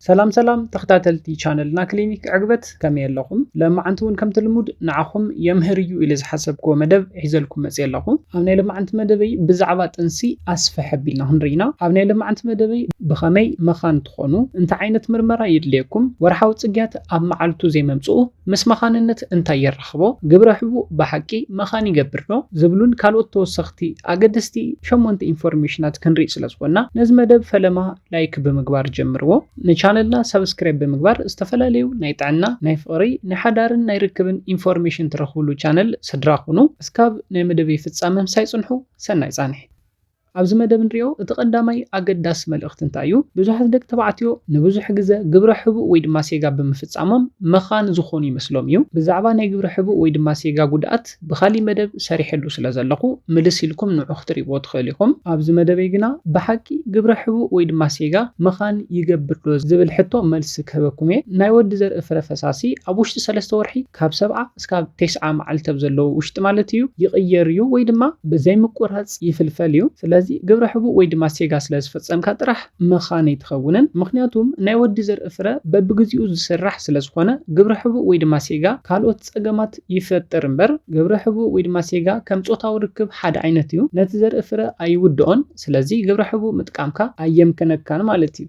ሰላም ሰላም ተኽታተልቲ ቻነልና ክሊኒክ ዕግበት ከመይ ኣለኹም ለማዓንቲ ውን ከምቲ ልሙድ ንዓኹም የምህር እዩ ኢለ ዝሓሰብክዎ መደብ ሒዘልኩም መጽየ ኣለኹ ኣብ ናይ ለማዓንቲ መደበይ ብዛዕባ ጥንሲ ኣስፍሕ ኣቢልና ክንርኢ ኢና ኣብ ናይ ለማዓንቲ መደበይ ብኸመይ መኻን ትኾኑ እንታይ ዓይነት ምርመራ የድልየኩም ወርሓዊ ጽግያት ኣብ ማዓልቱ ዘይመምጽኡ ምስ መኻንነት እንታይ የራኽቦ ግብረ ሕቡእ ብሓቂ መኻን ይገብር ዶ ዝብሉን ካልኦት ተወሰኽቲ ኣገደስቲ ሸሞንተ ኢንፎርሜሽናት ክንሪኢ ስለ ዝኾንና ነዚ መደብ ፈለማ ላይክ ብምግባር ጀምርዎ። ንቻነልና ሳብስክራይብ ብምግባር ዝተፈላለዩ ናይ ጥዕና፣ ናይ ፍቕሪ፣ ናይ ሓዳርን ናይ ርክብን ኢንፎርሜሽን ትረኽብሉ ቻነል ስድራ ኩኑ። እስካብ ናይ መደበይ ፍጻመ ምሳይ ጽንሑ። ሰናይ ጻንሒት። ኣብዚ መደብ እንሪኦ እቲ ቀዳማይ ኣገዳሲ መልእኽቲ እንታይ እዩ? ብዙሓት ደቂ ተባዕትዮ ንብዙሕ ግዘ ግብረ ሕቡእ ወይ ድማ ሴጋ ብምፍጻሞም መኻን ዝኾኑ ይመስሎም እዩ። ብዛዕባ ናይ ግብረ ሕቡእ ወይ ድማ ሴጋ ጉድኣት ፓርት ብካሊ መደብ ሰሪሐሉ ስለ ዘለኩ ምልስ ኢልኩም ንዑ ክትሪእዎ ትክእሉ ኢኩም ኣብዚ መደበይ ግና ብሓቂ ግብረ ሕቡእ ወይ ድማ ሴጋ ምካን ይገብር ዶ ዝብል ሕቶ መልሲ ክህበኩም እየ ናይ ወዲ ዘርኢ ፍረ ፈሳሲ ኣብ ውሽጢ ሰለስተ ወርሒ ካብ ሰብዓ እስካብ ቴስዓ መዓልቲ ኣብ ዘለዎ ውሽጢ ማለት እዩ ይቅየር እዩ ወይ ድማ ብዘይ ምቁራጽ ይፍልፈል እዩ ስለዚ ግብረ ሕቡእ ወይ ድማ ሴጋ ስለ ዝፈጸምካ ጥራሕ ምካን ኣይትከውንን ምክንያቱም ናይ ወዲ ዘርኢ ፍረ በብግዚኡ ዝስራሕ ስለ ዝኮነ ግብረ ሕቡእ ወይ ድማ ሴጋ ካልኦት ጸገማት ይፈጥር እምበር ግብረ ሕቡእ ወይ ድማ ሴጋ ከም ጾታዊ ርክብ ሓደ ዓይነት እዩ ነቲ ዘርኢ ፍረ ኣይውድኦን ስለዚ ግብረ ሕቡእ ምጥቃምካ ኣየምክነካን ማለት እዩ።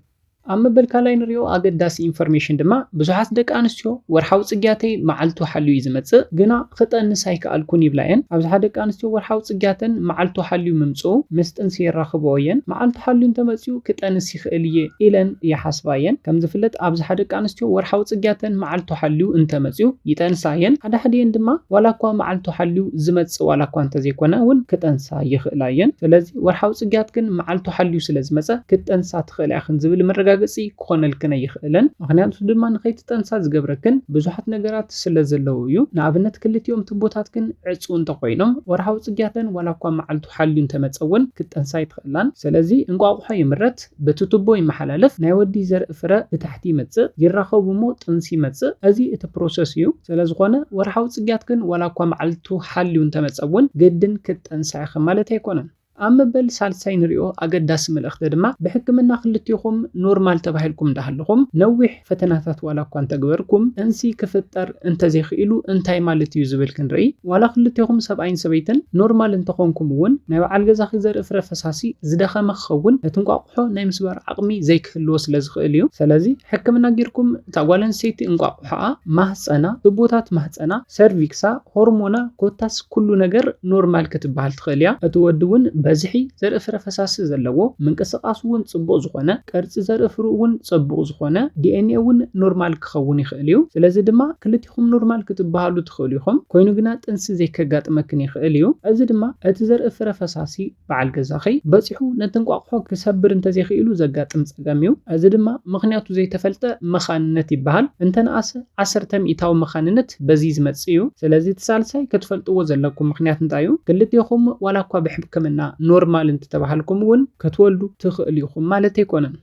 ኣብ መበል ካልኣይ ንሪኦ ኣገዳሲ ኢንፎርሜሽን ድማ ብዙሓት ደቂ ኣንስትዮ ወርሓዊ ጽግያተይ መዓልቱ ሓልዩ እዩ ዝመጽእ ግና ክጠንስ ኣይከኣልኩን ይብላ እየን። ኣብዝሓ ደቂ ኣንስትዮ ወርሓዊ ጽግያተን መዓልቱ ሓልዩ ምምጽኡ ምስ ጥንሲ የራኽብኦ እየን። መዓልቱ ሓልዩ እንተመጽዩ ክጠንስ ይኽእል እየ ኢለን ይሓስባ እየን። ከም ዝፍለጥ ኣብዝሓ ደቂ ኣንስትዮ ወርሓዊ ጽግያተን መዓልቱ ሓልዩ እንተ መጽዩ ይጠንሳ እየን። ሓደ ሓዲኤን ድማ ዋላ እኳ መዓልቱ ሓልዩ ዝመጽእ ዋላ እኳ እንተ ዘይኮነ እውን ክጠንሳ ይኽእላ እየን። ስለዚ ወርሓዊ ጽግያት ግን መዓልቱ ሓልዩ ስለ ዝመጸ ክትጠንሳ ትኽእላ ኢኽን ዝብል መረጋገጺ ክኾነልክን ኣይኽእልን። ምኽንያቱ ድማ ንኸይትጠንሳ ዝገብረክን ብዙሓት ነገራት ስለ ዘለዉ እዩ። ንኣብነት ክልቲኦም ትቦታት ግን ዕጽው እንተ ኮይኖም ወርሓዊ ጽግያተን ዋላ እኳ መዓልቱ ተሓልዩ እንተመጸ እውን ክትጠንስ ኣይትኽእላን። ሰለዚ እንቋቑሖ ይምረት፣ በቲ ቱቦ ይመሓላለፍ፣ ናይ ወዲ ዘርኢ ፍረ ብታሕቲ ይመጽእ፣ ይራኸቡ እሞ ጥንሲ ይመጽእ፣ እዚ እቲ ፕሮሰስ እዩ። ሰለዝኾነ ወርሓዊ ጽግያት ግን ዋላ እኳ መዓልቱ ሓልዩ እንተመጸ እውን ግድን ክትጠንሳ ኢኺ ማለት ኣይኮነን። ኣብ መበል ሳልሳይ ንሪኦ ኣገዳሲ መልእኽቲ ድማ ብሕክምና ክልቴኹም ኖርማል ተባሂልኩም እንዳሃለኹም ነዊሕ፣ ፈተናታት ዋላ እኳ እንተግበርኩም ጥንሲ ክፍጠር እንተዘይክኢሉ እንታይ ማለት እዩ ዝብል ክንርኢ ዋላ ክልቴኹም ሰብኣይን ሰበይትን ኖርማል እንተኾንኩም እውን ናይ በዓል ገዛኺ ዘርኢ ፍረ ፈሳሲ ዝደኸመ ክኸውን ነቲ እንቋቑሖ ናይ ምስባር ዓቕሚ ዘይክህልዎ ስለ ዝኽእል እዩ ሰለዚ ሕክምና ጌርኩም እታ ጓል ኣንስተይቲ እንቋቑሖኣ ማህጸና ቱቦታት ማህጸና ሰርቪክሳ ሆርሞና ኮታስ ኩሉ ነገር ኖርማል ክትበሃል ትኽእል እያ። እቲ ወዲ እውን በዝሒ ዘርኢ ፍረ ፈሳሲ ዘለዎ፣ ምንቅስቃሱ እውን ፅቡቕ ዝኾነ፣ ቅርፂ ዘርኢ ፍርኡ እውን ፀቡቕ ዝኾነ፣ ዲኤንኤ እውን ኖርማል ክኸውን ይኽእል እዩ። ስለዚ ድማ ክልቴኹም ኖርማል ክትበሃሉ ትኽእሉ ኢኹም። ኮይኑ ግና ጥንሲ ዘይከጋጥመክን ይኽእል እዩ። እዚ ድማ እቲ ዘርኢ ፍረ ፈሳሲ በዓል ገዛኺ በጺሑ ነቲ እንቋቑሖ ክሰብር እንተዘይክኢሉ ዘጋጥም ጸገም እዩ። እዚ ድማ ምኽንያቱ ዘይተፈልጠ መኻንነት ይበሃል። እንተነኣሰ ዓሰርተ ሚኢታዊ መኻንነት በዚ ዝመጽእ እዩ። ስለዚ እቲ ሳልሳይ ክትፈልጥዎ ዘለኩም ምኽንያት እንታይ እዩ። ክልቴኹም ዋላኳ ብሕብክምና ኖርማል እንተተባሃልኩም እውን ክትወልዱ ትኽእሉ ኢኹም ማለት ኣይኮነን።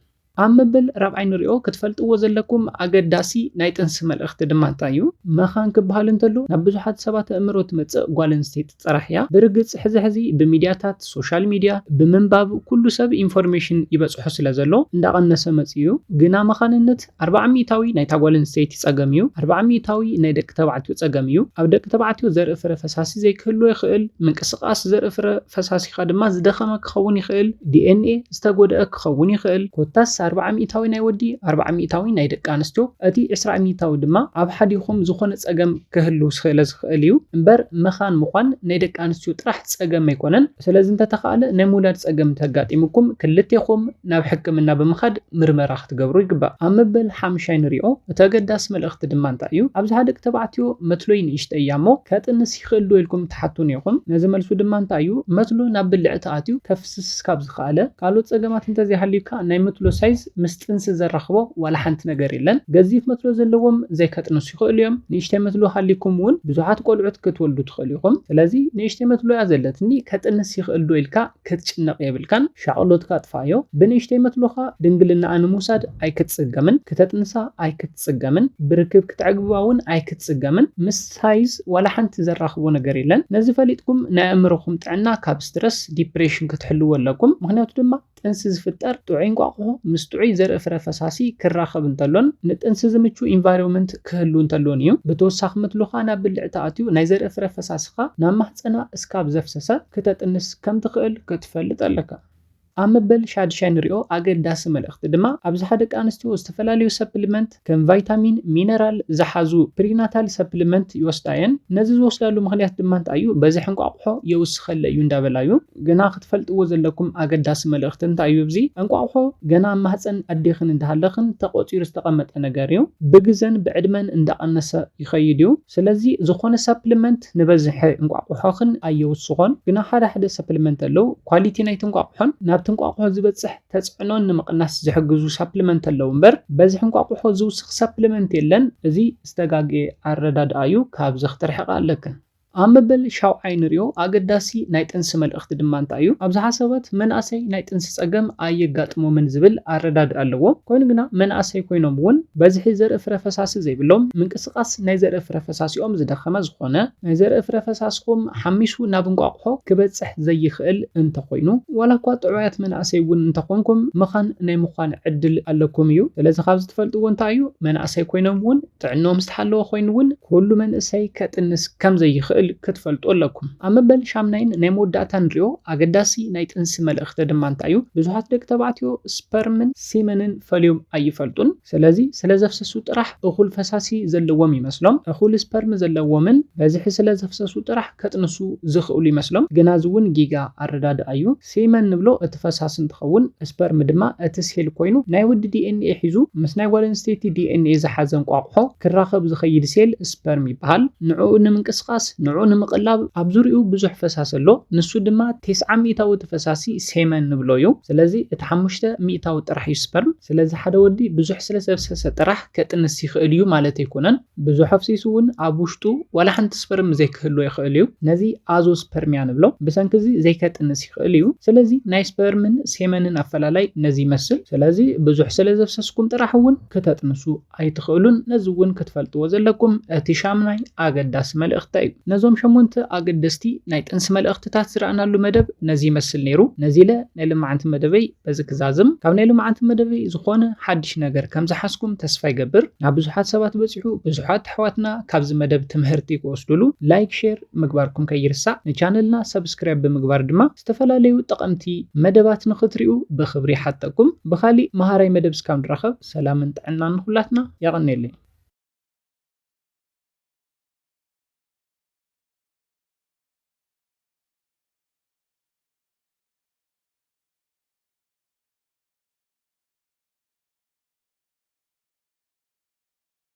ኣብ መበል ራብዓይ ንሪኦ። ክትፈልጥዎ ዘለኩም ኣገዳሲ ናይ ጥንሲ መልእኽቲ ድማ እንታይ እዩ? መኻን ክበሃል እንተሎ ናብ ብዙሓት ሰባት ኣእምሮ ትመጽእ ጓል ኣንስተይቲ ጥራሕ እያ። ብርግጽ ሕዚ ሕዚ ብሚድያታት፣ ሶሻል ሚድያ፣ ብምንባብ ኩሉ ሰብ ኢንፎርሜሽን ይበጽሖ ስለ ዘሎ እንዳቐነሰ መጺኡ እዩ። ግና መኻንነት ኣርብዓ ሚእታዊ ናይታ ጓል ኣንስተይቲ ጸገም እዩ። ኣርብዓ ሚእታዊ ናይ ደቂ ተባዕትዮ ጸገም እዩ። ኣብ ደቂ ተባዕትዮ ዘርኢ ፍረ ፈሳሲ ዘይክህልዎ ይኽእል። ምንቅስቓስ ዘርኢ ፍረ ፈሳሲኻ ድማ ዝደኸመ ክኸውን ይኽእል። ዲኤንኤ ዝተጎድኣ ክኸውን ይኽእል፣ ኮታስ ኣርብዓ ሚእታዊ ናይ ወዲ ኣርብዓ ሚእታዊ ናይ ደቂ ኣንስትዮ እቲ ዕስራ ሚእታዊ ድማ ኣብ ሓዲኹም ዝኾነ ጸገም ክህሉ ስለ ዝኽእል እዩ እምበር መኻን ምዃን ናይ ደቂ ኣንስትዮ ጥራሕ ጸገም ኣይኮነን ስለዚ እንተተኻእለ ናይ ምውላድ ጸገም እንተጋጢሙኩም ክልቴኹም ናብ ሕክምና ብምኻድ ምርመራ ክትገብሩ ይግባእ ኣብ መበል ሓምሻይ ንሪኦ እቲ ኣገዳሲ መልእኽቲ ድማ እንታይ እዩ ኣብዝሓ ደቂ ተባዕትዮ መትሎይ ንእሽተይ እያ እሞ ከጥንስ ይኽእል ዶ ኢልኩም ትሓቱኒ ኢኹም ነዚ መልሱ ድማ እንታይ እዩ መትሎ ናብ ብልዕቲ ኣትዩ ስስካብ ዝኸኣለ ካልኦት ጸገማት እንተዘይሃልዩካ ናይ መትሎ ሳይዝ ምስ ጥንሲ ዘራኽቦ ዋላ ሓንቲ ነገር የለን። ገዚፍ መትሎ ዘለዎም ዘይከጥንሱ ይኸእሉ እዮም። ንእሽተይ መትሎ ሃልይኩም እውን ብዙሓት ቆልዑት ክትወልዱ ትኸእሉ ኢኹም። ስለዚ ንእሽተይ መትሎ እያ ዘለትኒ ከጥንስ ይኸእል ዶ ኢልካ ክትጭነቕ የብልካን። ሻቕሎትካ ኣጥፍኣዮ። ብንእሽተይ መትሎኻ ድንግልናኣ ንምውሳድ ኣይክትጽገምን። ክተጥንሳ ኣይክትጽገምን። ብርክብ ክተዕግብባ እውን ኣይክትጽገምን። ምስ። ሳይዝ ዋላ ሓንቲ ዘራኽቦ ነገር የለን ነዚ ፈሊጥኩም ናይ ኣእምሮኹም ጥዕና ካብ ስትረስ፣ ዲፕሬሽን፣ ክትሕልዎ ኣለኩም ምኽንያቱ ድማ ጥንሲ ዝፍጠር ጥዑይ እንቋቑሖ ምስ ጥዑይ ዘርኢ ፍረ ፈሳሲ ክራኸብ እንተሎን ንጥንሲ ዝምቹ ኢንቫይሮመንት ክህሉ እንተሎን እዩ ብተወሳኺ ምትሉኻ ናብ ብልዕቲ ኣትዩ ናይ ዘርኢ ፍረ ፈሳስኻ ናብ ማህጸና እስካብ ዘፍሰሰ ክተጥንስ ከምትኽእል ክትፈልጥ ኣለካ። ኣብ መበል ሻድሻይ ንሪኦ ኣገዳሲ መልእኽቲ ድማ ኣብዝሓ ደቂ ኣንስትዮ ዝተፈላለዩ ሰፕሊመንት ከም ቫይታሚን፣ ሚነራል ዝሓዙ ፕሪናታል ሰፕሊመንት ይወስዳ እየን። ነዚ ዝወስዳሉ ምኽንያት ድማ እንታይ እዩ? በዝሒ እንቋቑሖ የውስኸለይ እዩ እንዳበላ እዩ። ግና ክትፈልጥዎ ዘለኩም ኣገዳሲ መልእኽቲ እንታይ እዩ እብዚ? እንቋቑሖ ገና ኣብ ማህፀን ኣዴኽን እንዳሃለኽን ተቖፂሩ ዝተቐመጠ ነገር እዩ። ብግዘን ብዕድመን እንዳቐነሰ ይኸይድ እዩ። ስለዚ ዝኾነ ሳፕልመንት ንበዝሒ እንቋቑሖኽን ኣየውስኾን፣ ግና ሓደ ሓደ ሳፕልመንት ኣለዉ፣ ኳሊቲ ናይቲ እንቋቑሖን ናብቲ እንቋቑሖ ዝበጽሕ ተጽዕኖን ንምቕናስ ዝሕግዙ ሳፕልመንት ኣለዉ እምበር በዝሒ እንቋቑሖ ዝውስኽ ሳፕልመንት የለን፣ እዚ ዝተጋግየ ኣረዳድኣ እዩ፣ ካብዚ ክትርሕቓ ኣለክን። ኣብ መበል ሻውዓይ ንሪኦ ኣገዳሲ ናይ ጥንሲ መልእኽቲ ድማ እንታይ እዩ? ኣብዝሓ ሰባት መናእሰይ ናይ ጥንሲ ጸገም ኣየጋጥሞምን ዝብል ኣረዳድኣ ኣለዎም፣ ኮይኑ ግና መናእሰይ ኮይኖም እውን በዝሒ ዘርኢ ፍረ ፈሳሲ ዘይብሎም፣ ድቃስ ናይ ዘርኢ ፍረ ፈሳሲኦም ዝደኸመ ዝኾነ፣ ናይ ዘርኢ ፍረ ፈሳስኹም ሓሚሱ ናብ እንቋቑሖ ክበጽሕ ዘይኽእል እንተኾይኑ፣ ዋላ እኳ ጥዑያት መናእሰይ እውን እንተኾንኩም መኻን ናይ ምዃን ዕድል ኣለኩም እዩ። ስለዚ ካብዚ ትፈልጥዎ እንታይ እዩ? መናእሰይ ኮይኖም እውን ጥዕንኦም ዝተሓለወ ኮይኑ እውን ኩሉ መንእሰይ ከጥንስ ከም ዘይኽእል ክትፈልጡ ኣለኩም። ኣብ መበል ሻምናይን ናይ መወዳእታን ንሪኦ ኣገዳሲ ናይ ጥንሲ መልእኽቲ ድማ እንታይ እዩ? ብዙሓት ደቂ ተባዕትዮ ስፐርምን ሲመንን ፈልዮም ኣይፈልጡን። ስለዚ ስለ ዘፍሰሱ ጥራሕ እኹል ፈሳሲ ዘለዎም ይመስሎም፣ እኹል ስፐርም ዘለዎምን በዝሒ ስለ ዘፍሰሱ ጥራሕ ከጥንሱ ዝኽእሉ ይመስሎም፣ ግና እዚ እውን ጊጋ ኣረዳድኣ እዩ። ሴመን ንብሎ እቲ ፈሳሲ እንትኸውን፣ ስፐርም ድማ እቲ ሴል ኮይኑ ናይ ወዲ ዲኤንኤ ሒዙ ምስ ናይ ጓል ኣንስተይቲ ዲኤንኤ ዝሓዘ እንቋቑሖ ክራኸብ ዝኸይድ ሴል ስፐርም ይበሃል። ንዕኡ ንምንቅስቓስ፣ ንዕኡ ንምቕላብ ኣብ ዙርይኡ ብዙሕ ፈሳሲ ኣሎ፣ ንሱ ድማ ቴስዓ ሚእታዊ እቲ ፈሳሲ ሴመን ንብሎ እዩ ስለዚ እቲ ሓሙሽተ ሚእታዊ ጥራሕ እዩ ስፐርም ስለዚ ሓደ ወዲ ብዙሕ ስለ ዘፍሰሰ ጥራሕ ከጥንስ ይኽእል እዩ ማለት ኣይኮነን ብዙሕ ኣፍሲሱ ውን ኣብ ውሽጡ ዋላ ሓንቲ ስፐርም ዘይክህልዎ ይኽእል እዩ ነዚ ኣዞስፐርሚያ ንብሎ ብሰንኪ እዚ ዘይከጥንስ ይኽእል እዩ ስለዚ ናይ ስፐርምን ሴመንን ኣፈላላይ ነዚ ይመስል ስለዚ ብዙሕ ስለ ዘፍሰስኩም ጥራሕ ውን ክተጥንሱ ኣይትኽእሉን ነዚ እውን ክትፈልጥዎ ዘለኩም እቲ ሻምናይ ኣገዳሲ መልእኽተ እዩ። ነዞም ሸሞንተ ኣገደስቲ ናይ ጥንሲ መልእኽትታት ዝረኣናሉ መደብ ነዚ ይመስል ነይሩ። ነዚለ ናይ ልማዓንቲ መደበይ በዚ ክዛዝም። ካብ ናይ ልማዓንቲ መደበይ ዝኾነ ሓድሽ ነገር ከም ዝሓዝኩም ተስፋ ይገብር። ናብ ብዙሓት ሰባት በጺሑ ብዙሓት ኣሕዋትና ካብዚ መደብ ትምሀርቲ ክወስዱሉ ላይክ ሼር ምግባርኩም ከይርሳዕ። ንቻነልና ሰብስክራይብ ብምግባር ድማ ዝተፈላለዩ ጠቐምቲ መደባት ንኽትሪኡ ብኽብሪ ይሓተኩም። ብኻሊእ መሃራይ መደብ እስካብ ንራኸብ። ሰላምን ጥዕናን ንኹላትና የቐኔለይ።